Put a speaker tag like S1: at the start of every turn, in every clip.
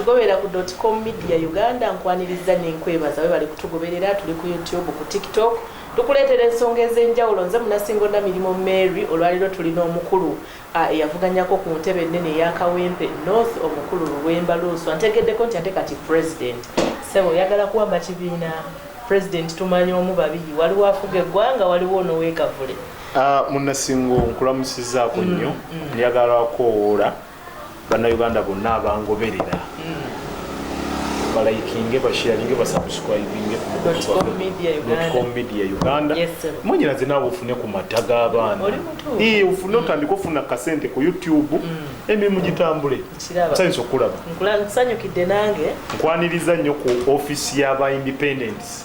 S1: Tugobera ku dotcom media Uganda nkwanirizza nenkwebaza webale kutugoberera tuli ku YouTube ku tiktok tukuleetera ensonga ez'enjawulo nze munasingo namirimo Mary olwaliro tulina omukulu eyavuganyako ku ntebe ennene eya kawempe north omukulu luwemba luuswa ntegeddeko nti ate kati president sebo oyagala kuwamba kibiina president tumanyi omu babiri waliwo afuga eggwanga waliwo onowekavule Ah, munnasingo
S2: nkulamusizaako mm, nnyo mm. njagala kowoola bannayuganda bonna abangoberera mm. balayikinge bashiyalinge basubscribinge media uganda mwenyera zinawe ofune ku mata g'abaana ofune otandika ofuna kasente ku youtube emirimu gitambule nsanyusa okukulaba
S1: nkwaniriza nnyo
S2: ku office y'aba independence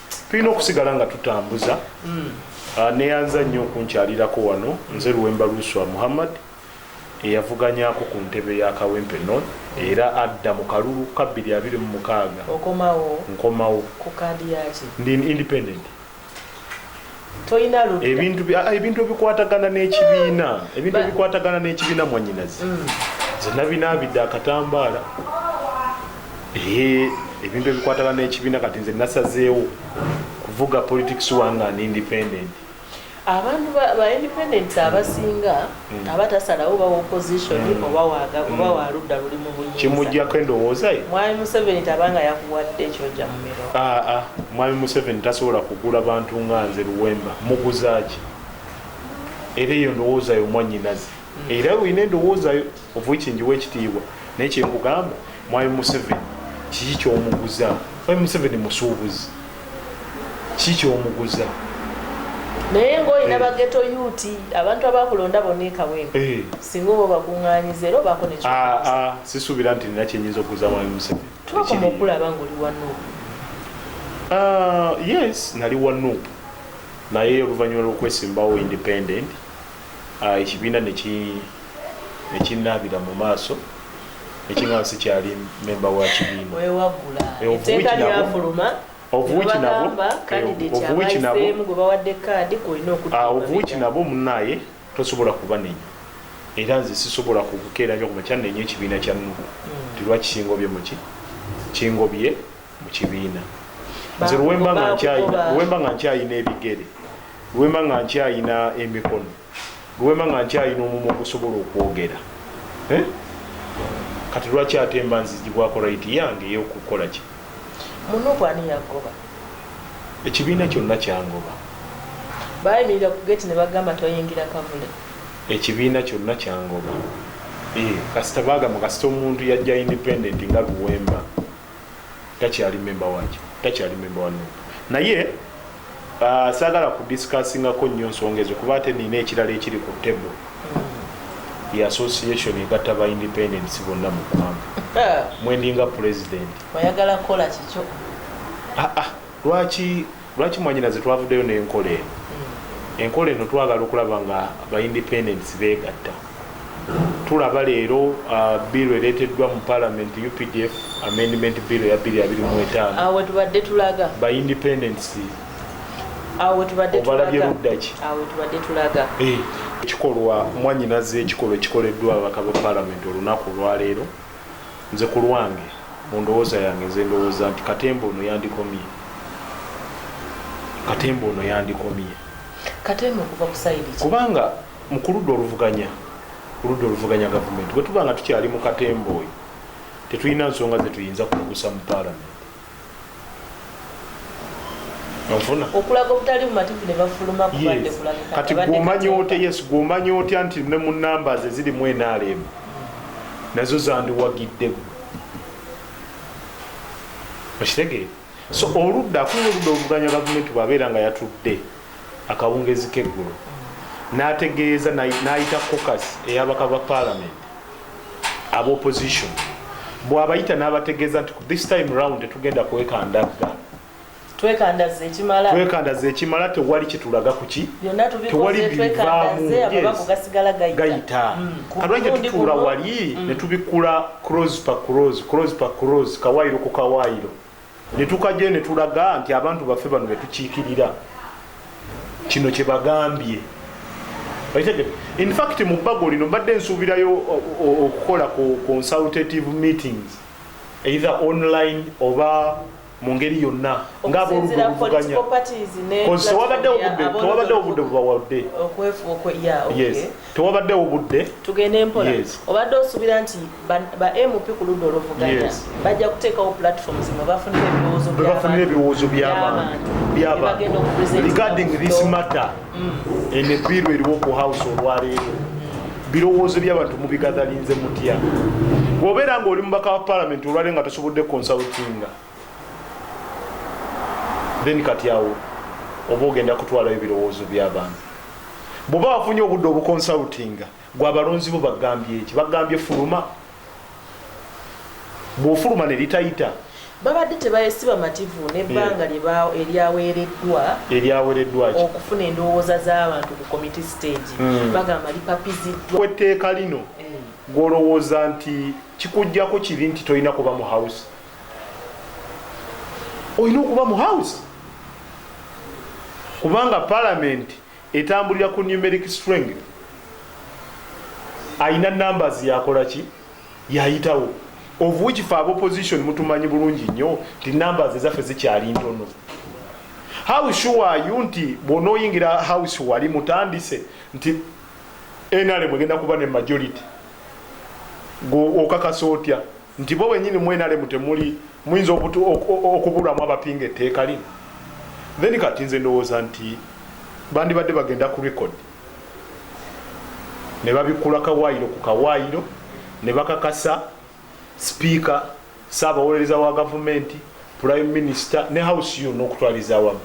S2: tulina okusigala nga tutambuza mm. ah, neyanza nnyo okunkyalirako wano nze luwemba lwuswa muhammad eyavuganyako ku ntebe ya kawempe non era adda mu kalulu ka 226 nkomawo
S1: ndi independent tolina ludda ebintu bi- ah, ebintu
S2: ebikwatagana n'ekibiina ebintu Ba- ebikwatagana n'ekibiina mwanyinazi Mm. nze nabinaabidde akatambaala Eh, ebintu ebikwatagana n'ekibiina kati nze nasazeewo kuvuga politics wange an independent abantu
S1: ba, ba independent abasinga mm. aba tasalawo oba opposition mm. oba waga mm. oba waludda luli mu buyinza kimujjako endowooza ye
S2: mwami museveni tabanga
S1: yakuwadde kyoja mu miro aa ah, ah. mwami museveni
S2: tasobola kugula bantu nga nze luwemba muguzaaki era eyo ndowooza yo mwanyinazi mm. era olina endowooza yo ovuikinjiwa ekitiibwa naye kyenkugamba mwami museveni kiki kyomuguza mwami museveni musuubuzi kikyomuguza
S1: naye ngaolina eh. bageto yuti abantu abakulonda bonna ekawempe eh. singa oba obakunganyiza era obaako nekyo ah, ah, sisuubira nti nina
S2: kyenyinza okuguza mwami museveni twakoma okulaba nga
S1: oli wano ah,
S2: yes nali wano naye oluvannyuma lwokwesimbawo independent Ah, ekibiina nekinnaabira mu maaso nekiga nsi kyali memba wa
S1: kibiinaewaguaeteekalyafuluma
S2: obuwiki nabo munaaye tosobola kubanenya era nze sisobola kukukeera nyo kumakya nenya ekibiina kya nugu hmm. tilwakisinga obye muki kingobye mu kibiina nze luwemba nga nkyayina luwemba nga nkyayina ebigere luwemba nga nkyayina emikono luwemba nga nkyayina omumu ogusobola okwogera eh? kati lwaki ate mba nzijibwako right yange eyokukola ki munuku ani
S1: yagoba ekibiina
S2: kyonna kyangoba
S1: bayimirira ku geti ne bagamba toyingira kavule ekibiina
S2: kyonna kyangoba eh, kasita bagamba kasita omuntu yajja independent nga luwemba takyali memba waki takyali memba wa nup naye uh, sagala kudiscussingako nnyo nsonga ezo kuba ate nina ekirala ekiri ku table ye association egatta ba independence bonna mu ggwanga eh. mwendinga president oyagala kukola
S1: kikyo ah, ah. lwaki
S2: Lwaki mwanyinaze twavudeyo nenkola eno enkola eno twagala okulaba nga ba independents begatta tulaba leero uh, bill ereteddwa mu parliament updf amendment bill ya 225 awo tubadde
S1: tulaga ba independents
S2: awo tubadde
S1: obalabye luddaki awo tubadde tulaga eh, ekikolwa
S2: mwanyinaze ekikolwa ekikoleddwa ababaka ba parliament olunaku olwaleero Nze ku lwange, mu ndowooza yange, nze ndowooza nti katemba ono yandikomye. Katemba ono yandikomye.
S1: Katemba okuva ku sayidi ki? Kubanga mu
S2: ku ludda oluvuganya, ku ludda oluvuganya gavumenti, bwe tuba nga tukyali mu katemba oyo, tetulina nsonga ze tuyinza kumugusa mu paalamenti.
S1: okulaga obutali bumativu ne bafuluma kubadde kulabika kati gwomanya otya
S2: yes gwomanya otya nti ne mu numbers eziri mu nrm nazo zandiwagidde okitegeera so oludda akulira oludda oluvuganya gavumenti bwabeera nga yatudde akawungezi k'eggulo n'ategeeza n'ayita cocas eyabaka ba palamenti aba opposition bwabayita n'abategeeza nti this time round tetugenda kwekandagga twekandaza ekimala
S1: twekandaza ekimala tewali
S2: kitulaga kuki tewali
S1: bivaamu gayita
S2: mm. kalwanja tutuula wali mm. ne tubikula cross pa cross cross pa cross kawaayiro ku kawaayiro netukajayo netulaga nti abantu baffe bano betukikirira kino kyebagambye infact mu bbago lino mbadde nsuubirayo okukola ku consultative meetings either online oba mu ngeri yonna ngaaboludde obuvuganya tewabadde obudde bubawadde yes. tewabaddewo budde tugende mpola yes.
S1: obadde osubira nti ba, ba mp ku ludda oluvuganya yes. bajja kuteekawo platform zino bafunira ebirowoozo byabafunira ebirowoozo byabantu
S2: byabantu regarding this matter mm. eno ebbiiru eriwo ku house olwaleero birowoozo byabantu mubigathalinze mutya obeera nga oli mubaka wa palamenti olwaleero nga tosobodde consultinga then kati awo oba ogenda kutwalayo ebirowoozo byabantu bweoba wafunye obudde obukonsultinga gwe abalonzi bo bagambye eki bagambye fuluma bwofuluma nelitayita babadde tebayesi
S1: bamativu nebbanga eh. eryaweereddwa eryaweereddwa okufuna endowooza z'abantu ku committe stage hmm. bagamba lipapiziddwa etteeka lino
S2: eh. gwolowooza nti kikugjako kibi nti tolina kuba mu house olina okuba mu house kubanga palamenti etambulira ku numeric string alina numbers yakola ki yayitawo of which fe abaopposition mutumanyi bulungi nnyo nti numbers ezaffe zikyali ntono how sure are you nti bwonoyingira house wali mutandise nti nrm egenda kuba ne majority okakasa otya nti bo benyini mu nrm temuli muyinza okubulamu abapinga etteeka lino then kati nze ndowooza nti bandibadde bagenda ku record ne babikula kawaayiro ku kawaayiro ne bakakasa sipiika saabawolereza wa gavumenti prime minister ne house yo n'okutwaliza awamu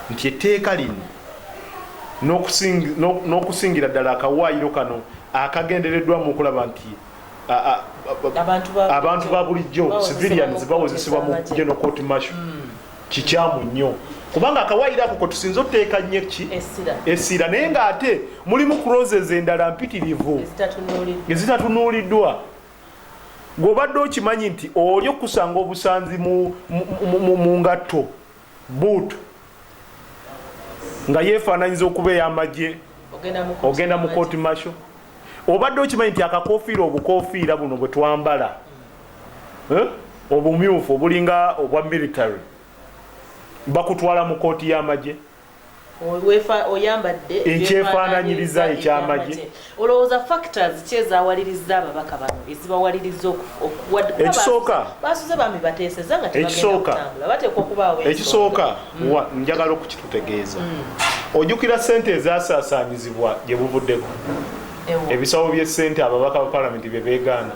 S2: nti etteeka lino n'okusingira ddala akawaayiro kano akagendereddwamu okulaba nti abantu ba bulijjo civilians bawozesebwa mu geno court marshal hmm. kikyamu nnyo kubanga akawayiro ako kwetusinza oteeka nnyo ki essira naye ng'ate mulimu croses endala mpitirivu ezitatunuuliddwa gweobadde okimanyi nti oli okukusanga obusanzi mu ngatto Buutu nga yeefaananyiza okuba ey'amagye ogenda mu kooti masho obadde okimanyi nti akakofiira obukofiira buno bwe twambala eh, obumyufu obulinga obwa military bakutwala mu kooti y'amagye oyambadde
S1: ekyefaananyiriza
S2: ekyamagye olowooza factors
S1: ki ezawaliriza ababaka bano ezibawaliriza ekisooka
S2: basuze bambi
S1: bateeseza nga tebagenda bateekwa okubaawo ekisooka mm.
S2: wa njagala okukitutegeeza mm. ojukira sente ezasaasaanyizibwa gye buvuddeko ebisawo by'essente ababaka ba palamenti bye beegaana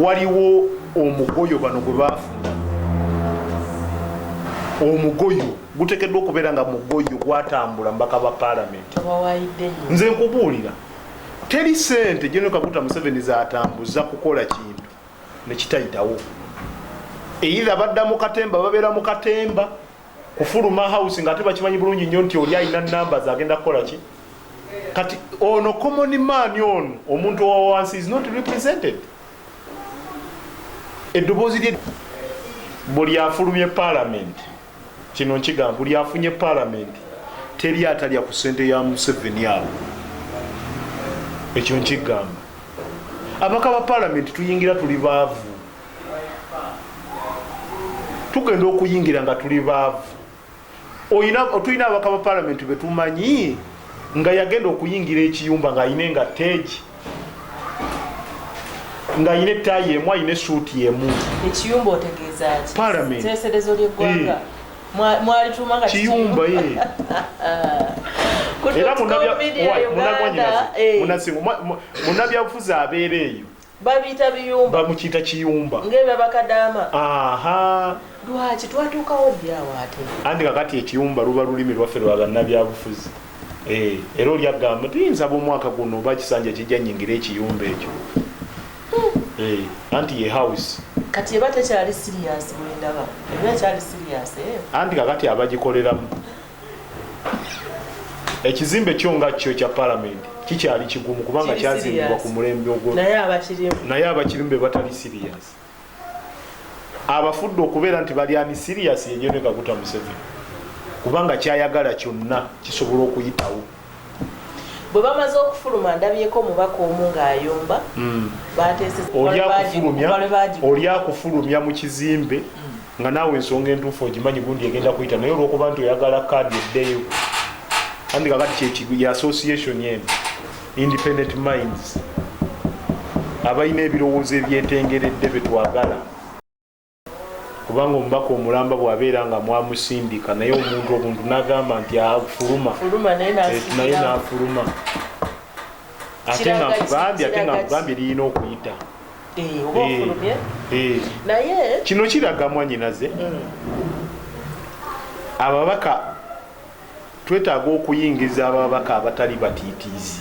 S2: waliwo omugoyo bano gwe baafuna omugoyo gutekeddwa okubeera nga mugoyo gwatambula mubaka ba palamenti nze nkubuulira teri sente jeno kaguta museveni zatambuza kukola kintu nekitayitawo eitha badda mu katemba babeera mu katemba kufuluma house nga ate bakimanyi bulungi nnyo nti oli alina namba zagenda kukola ki kati ono common man ono omuntu owawansi is not represented eddoboozi lye buli afulumye palamenti kino nkigamba buli afunye palamenti teri atalya ku sente ya museveni abo ekyo nkigamba abaka ba palamenti tuyingira tuli baavu tugenda okuyingira nga tuli baavu oyina otulina abaka ba palamenti betumanyi nga yagenda okuyingira ekiyumba ng'alina engatteegi ng'alina ettaayi emu alina esuuti emu ekiyumba otegeeza
S1: ki palamenti teeserezo
S2: ly'eggwanga eh.
S1: mwalituma nga kiyumba ye
S2: eh. era munabyabufuzi eh. abeera eyo
S1: babiyita biyumba bamukiyita kiyumba
S2: ngebyaba kadaama
S1: aha
S2: lwaki
S1: twatuukawo ddi awo ate andi kakati ekiyumba
S2: luba lulimi lwaffe lwa bannabyabufuzi eh, era oli agamba tuyinza bomwaka guno oba kisanja kijja nyingira ekiyumba ekyo hmm. eh, anti ye house kati eba tekyali
S1: sirias bwendaba eba ekyali sirias eh. anti kakati
S2: abagikoleramu ekizimbe kyo nga kyo ekya palamenti kikyali kigumu kubanga kyazimbibwa ku mulembe ogwo naye abakirimu be batali siriyas abafudde okubeera nti bali ani siriyas yenyone kaguta museveni kubanga kyayagala kyonna kisobola okuyitawo
S1: bwe bamaze okufuluma ndabyeko omubaka omu ng'ayomba hmm. bateeseolya
S2: kufulumya mu kizimbe nga naawe ensonga entuufu ogimanyi gundi egenda kuyita naye olwokuba nti oyagala kaadi eddeyo andika kati kyekigu ya association eno independent minds abalina ebirowoozo ebyetengeredde betwagala kubanga omubaka omulamba bwabeera nga mwamusindika naye omuntu obuntu nagamba nti afuluma eh, naye nafuluma ate nga nkugambye ate nga nkugambye lirina okuyita Eh, oba eh, ofulumye eh. naye kino kiraga mwanyinaze mm. ababaka twetaaga okuyingiza ababaka abatali batiitiizi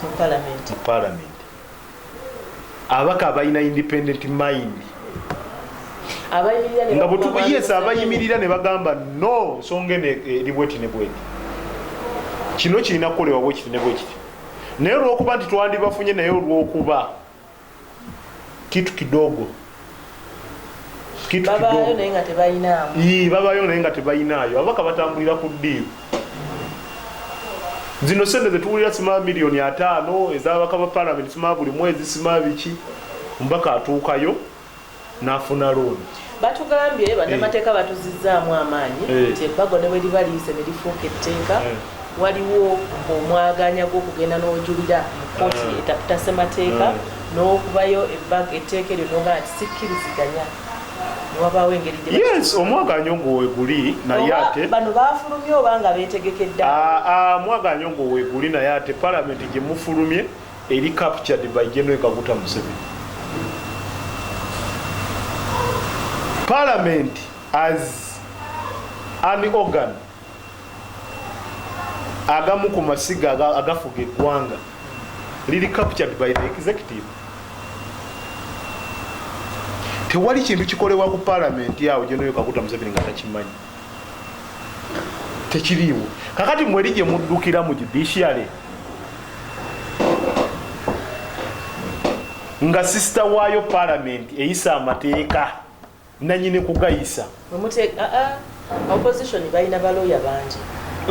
S1: mu
S2: palamenti ababaka abalina independent mind nga bwetukuyesa abayimirira ne bagamba no nsonga eno eri bweti ne bweti kino kirina kukolewa bwekiti ne bwekiti naye olwokuba nti twandibafunye naye olwokuba kitu kidogo
S1: babayo naye nga tebayinaayo
S2: ababaka batambulira ku ddiiru zino sente zetuwulira sima miliyoni ataano ezabaka ba palamenti sima buli mwezi sima biki omubaka atuukayo nafuna looni batugambye eh.
S1: bannamateeka batuzizzaamu amaanyi eh. nti ebbago ne bwe liba liyise ne lifuuka etteeka eh. waliwo omwaganya gw'okugenda n'ojulira mu kooti etaputa ssemateeka n'okubayo ebbago etteeka eryo noga nti sikkiriziganya wabaawo engeri yes omwaganya
S2: ogwo weguli naye ate bano bafulumye oba
S1: nga beetegekedde ah, ah, omwaganya
S2: ogwo weguli naye ate palamenti gye mufulumye Eri captured by General Kaguta Museveni. Parliament as an organ agamu ku masiga agafuga eggwanga liri captured by the executive. Tewali kintu kikolebwa ku parliament yawo General Kaguta Museveni nga takimanyi. tekiriiwo kakati mweri gye muddukira mu judiciary nga sisita waayo palamenti eyisa amateeka nanyini kugayisa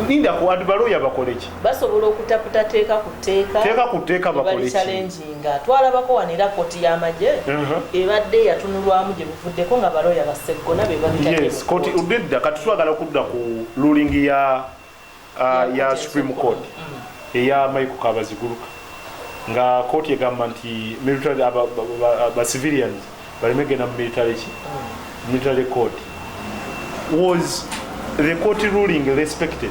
S1: ninda ku adi
S2: balooya bakoleki basobola okutaputa
S1: teeka ku teeka teeka ku teeka bakoleki
S2: nga twalabako
S1: wano era kooti y'amagye ebadde yatunulwamu gye buvuddeko nga balooya ba Sseggona be babitadde mu kooti. Obwedda
S2: kati twagala kudda ku ruling ya uh, ya Supreme Court mm. eya Michael Kabaziguruka nga kooti egamba nti military ba civilians baleme genda mu military ki mm. military court was the court ruling respected